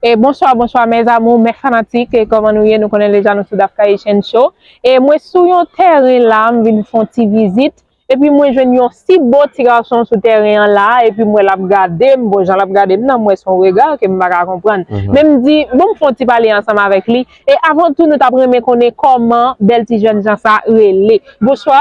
E bonswa bonswa mes amour mes fanatik e koman nou ye nou konnen deja nou sou Dafkayichèn show e mwen sou yon tèren la m vin fon ti vizit epi mwen jwenn yon si bo ti gason sou tèren an la epi m wè lap gade m bon jan lap gade m nan m wè son rega ke m paka konprann men m di bon m fon ti pale ansanm avèk li e avan tou nou tap renmen konnen koman bèl ti jènjan sa rele bonswa.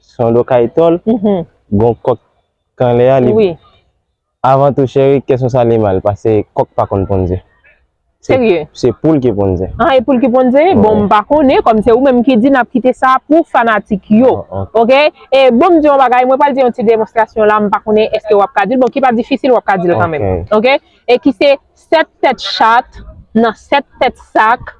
Son do kay tòl, gon kòk kanlè a li. Avan tou cheri kè son sa li mal pase kòk pa konn ponn ze. Serye? Se poul ki ponn ze. Ah e poul ki ponn ze? Bon m pa konnen kòm se ou menm ki di nap kite sa pou fanatik yo. Ok e bon m di yon bagay mwen pral di yon ti demonstrasyon la m pa konnen eske wap ka dil bon ki pa difisil wap ka dil kanmenm. Ok e ki se sèt tèt chat nan sèt tèt sak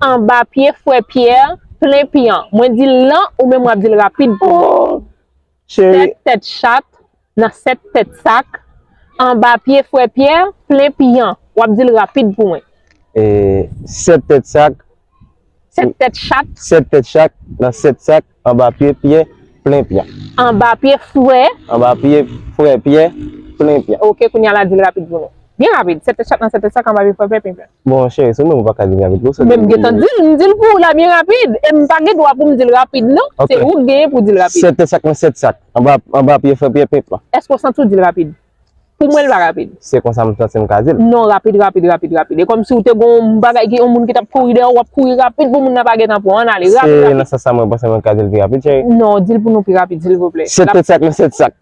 anba pye frè pyè plen piyan mwen di l lan ou menm w ap di l rapid pou mwen sèt tèt chat nan sèt tèt sak anba pye frè pyè plen piyan w ap di l rapid pou mwen sèt tèt sak Sèt tèt chat. Sèt tèt chak, nan sèt sak, anba pye Pyè, plen Pyè. Anba pye frè. Anba pye frè Pyè, plen Pyè. Ok, kounye a la di l rapid pou nou. Byen rapid, sèt tèt chat nan sèt tèt sak, anba pye frè Pyè, plen Pyè. Bon cheri, se ou menm ou pa ka di l rapid pou sa. Men m gentan di l, m di l pou ou la byen rapid. E m pa gen dwa pou m di l rapid non. Se ou k genyen pou w di l rapid. Sèt tèt chak nan sèt sak, anba pye frè Pyè, plen Pyè. Èske ou santi w di l rapid? Pou mwen li pa rapid. Se konsa m santi m ka di l. Non rapid rapid rapid rapid. E kòm si ou te gon yon bagay ki yon moun ki t ap kouri dèyè ou, w ap kouri rapid pou moun nan pa gen tan pran w. An n ale rapid rapid. Se nan sans sa mwen panse mwen ka di l pi rapid cheri. Non di l pou nou pi rapid silvouplè. Se tout sak nan se tout sak.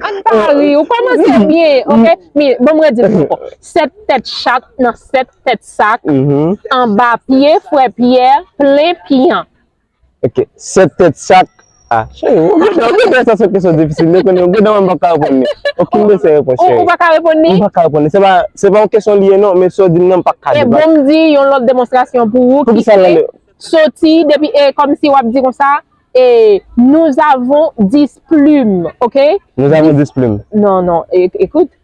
An n pa ri, ou kòmanse byen ok. Men ban m redi l ankò. Sèt tèt chat nan sèt tèt sak, anba pye frè Pyè plen pyan. Ok, 7 tèt chak. Ah chérie, ou gen dan, ou gen dan sa son kesyon difisil, ou konnen, ou gen dan mwen m pap ka reponn li. Okenn de se repons chérie. Ou pa ka reponn li? M pa ka reponn li. Se pa, se pa yon kesyon li ye non, men sa w di m nan m pap ka debat. E bon m di yon lòt demonstrasyon pou ou ki se soti depi e kòm si w ap di konsa e nous avons 10 plumes ok. Nous avons 10 plumes. Non, non, écoute.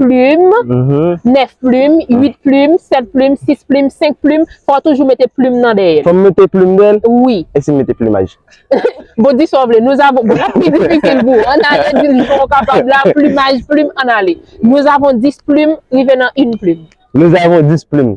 plim, 9 plim, 8 plim, 7 plim, 6 plim, 5 plim, fò w toujou mete plim nan dèyè l. Fò m mete plim dèyè l? Wi. E si m mete plimaj? Bon, di sa w vle. Nous avons, bon l ap pi difisil pou ou. An n ale, di l jan w kapab la, plimaj, plim, an n ale. Nous avons 10 plim rive nan 1 plim. Nous avons 10 plim.